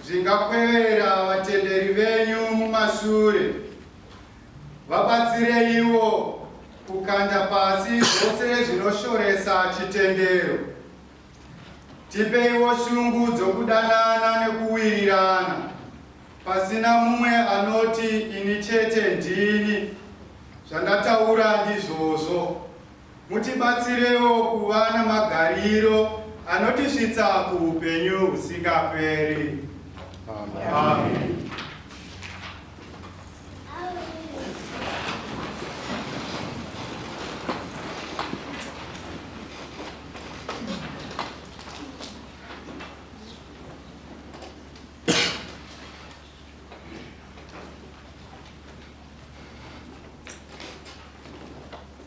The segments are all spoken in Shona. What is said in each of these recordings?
Zvingakwevera vatenderi venyu mumashure. Vabatsireiwo kukanda pasi zvose zvinoshoresa chitendero. Tipeiwo shungu dzokudanana nekuwirirana pasina mumwe anoti ini chete ndini zvandataura ndizvozvo. Mutibatsirewo kuva namagariro anotisvitsa kuupenyu husingaperi. Amen. Amen.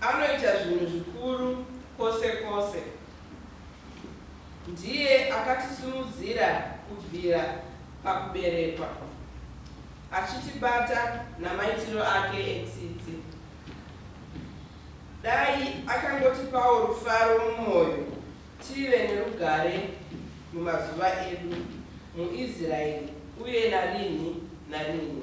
Anoita zvinhu zvikuru kwose kwose. Ndiye akatisimudzira kubvira pakuberekwa, achitibata namaitiro ake etsitsi. Dai akangotipawo rufaro mumwoyo tive nerugare mumazuva edu muIsraeri uye narinhi narinhi.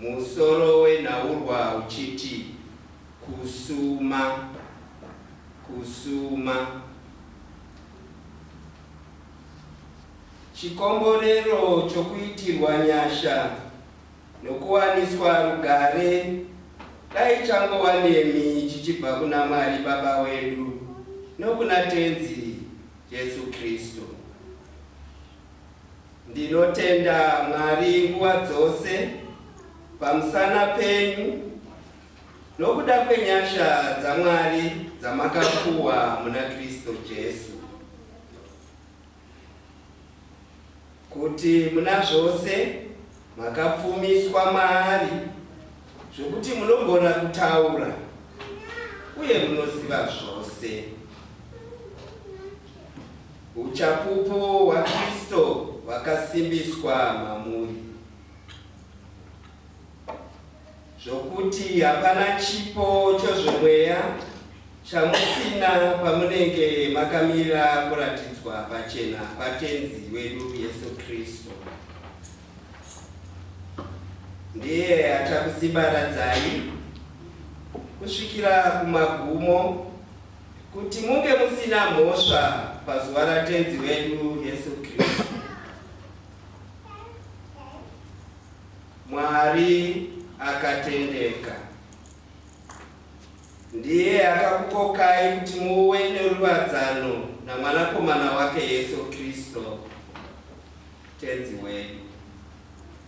Musoro wenhaurwa uchiti kusuma, kusuma. Chikomborero chokuitirwa nyasha nokuwaniswa rugare dai changova nemi chichibva kuna Mwari Baba wedu nokuna Tenzi Jesu Kristu. Ndinotenda Mwari nguva dzose pamusana penyu nokuda kwenyasha dzaMwari dzamakapuwa muna Kristu Jesu, kuti muna zvose makapfumiswa maari, zvokuti munogona kutaura uye munoziva zvose. Uchapupu hwaKristo hwakasimbiswa mamuri zvokuti hapana chipo chozvemweya chamusina pamunenge makamira kuratidzwa pachena kwaTenzi wedu Yesu Kristo. Ndiye achakusibaradzai kusvikira kumagumo Kuti munge musina mhosva pazuva raTenzi wedu Jesu Kristu. Mwari akatendeka ndiye akakukokai kuti muve neruwadzano naMwanakomana wake Jesu Kristu Tenzi wedu.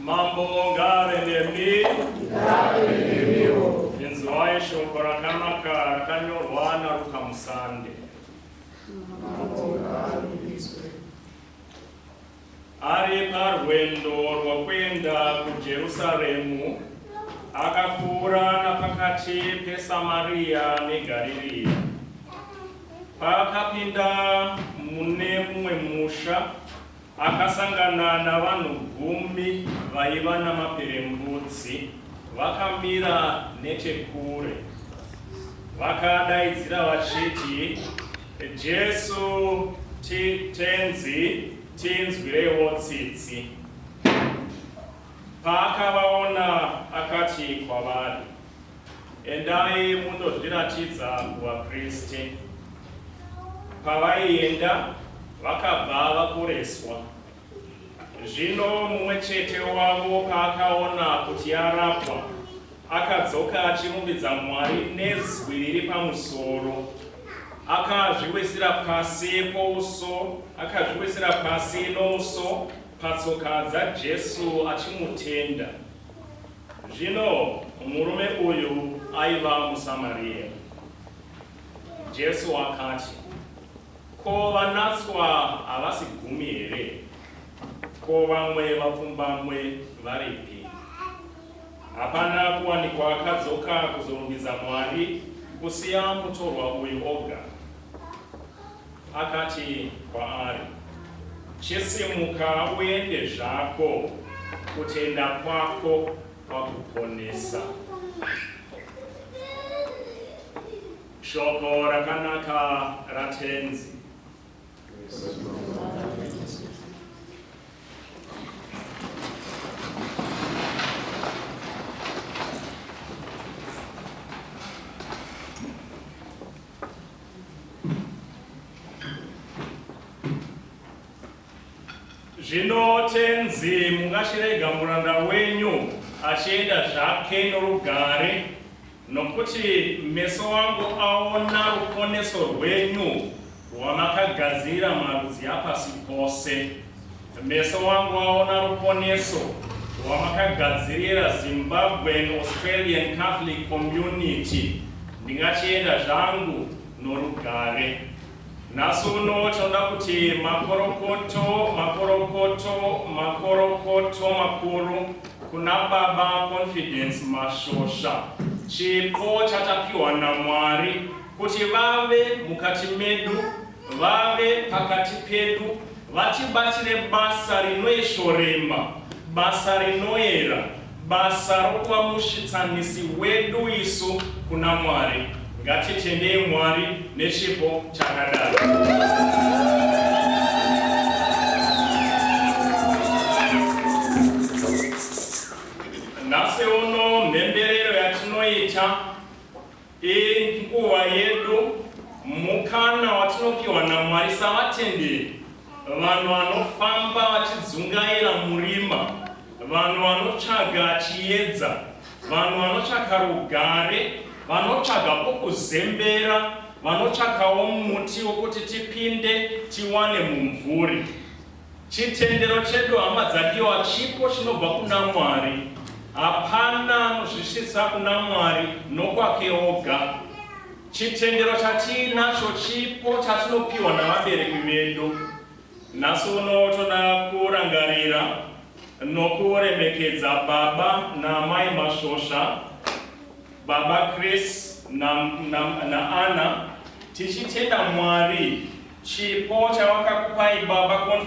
Mambo ngave nemi. Ngave nemiwo. Inzwai shoko rakanaka rakanyorwa naRuka Musande. Ari parwendo rwokuenda kuJerusaremu, akapfuura napakati peSamariya neGariria. Paakapinda mune mumwe musha, Akasangana navanhu gumi vaiva namaperembudzi vakamira nechekure. Vakadaidzira vachiti, Jesu, ti, Tenzi, tinzwirewo tsitsi. Paakavaona akati kwavari, Endai mundozviratidza kuvapriste. Pavaienda, vakabva vaporeswa. Zvino mumwe chete wavo paakaona kuti arapwa, akadzoka achirumbidza Mwari nezwi riri pamusoro. Akazviwisira pasi pouso, akazviwisira pasi nouso patsoka dzaJesu achimutenda. Zvino murume uyu aiva muSamaria. Jesu akati, Ko vanatswa havasi gumi here? Ko vamwe vapfumbamwe varipi? Hapana kuwanikwa akadzoka kuzorumbidza Mwari kusiya mutorwa uyu oga. Akati kwaari, Chisimuka uende zvako, kutenda kwako kwakuponesa. Shoko rakanaka raTenzi. Zvino tenzi, mungachirega muranda wenyu achienda zvake norugare, nokuti meso angu aona ruponeso rwenyu, rwamakagadzirira marudzi apasi pose. Meso wangu aona ruponeso rwamakagadzirira Zimbabwean Australian Catholic Community. Ndingachienda zvangu norugare. Nhasi uno tinoda kuti makorokoto, makorokoto, makorokoto makuru kuna Baba Confidence Mashosha. Chipo chatapiwa naMwari kuti vave mukati medu vave pakati pedu vatibatire basa rinoeshoremba, basa rinoera, basa rokuva musvitsanisi wedu isu kuna Mwari. Ngatitendei Mwari nechipo chakadaro. Inguva yedu, mukana watinopiwa naMwari savatenderi, vanhu vanofamba vachidzungaira murima, vanhu vanotsvaga chiedza, vanhu vanotsvaka rugare, vanotsvaga pokuzembera, vanotsvakawo muti wokuti tipinde tiwane mumvuri. Chitendero chedu hama dzadiwa chipo chinobva kuna Mwari. Hapana anozvisvitsa kuna Mwari nokwake oga. Chitendero chatiinacho chipo chatinopiwa navabereki vedu. Nhasi uno toda kurangarira nokuremekedza baba naamai Masvosva, baba Chris naAnna, tichitenda Mwari chipo chavakakupai baba Confidence.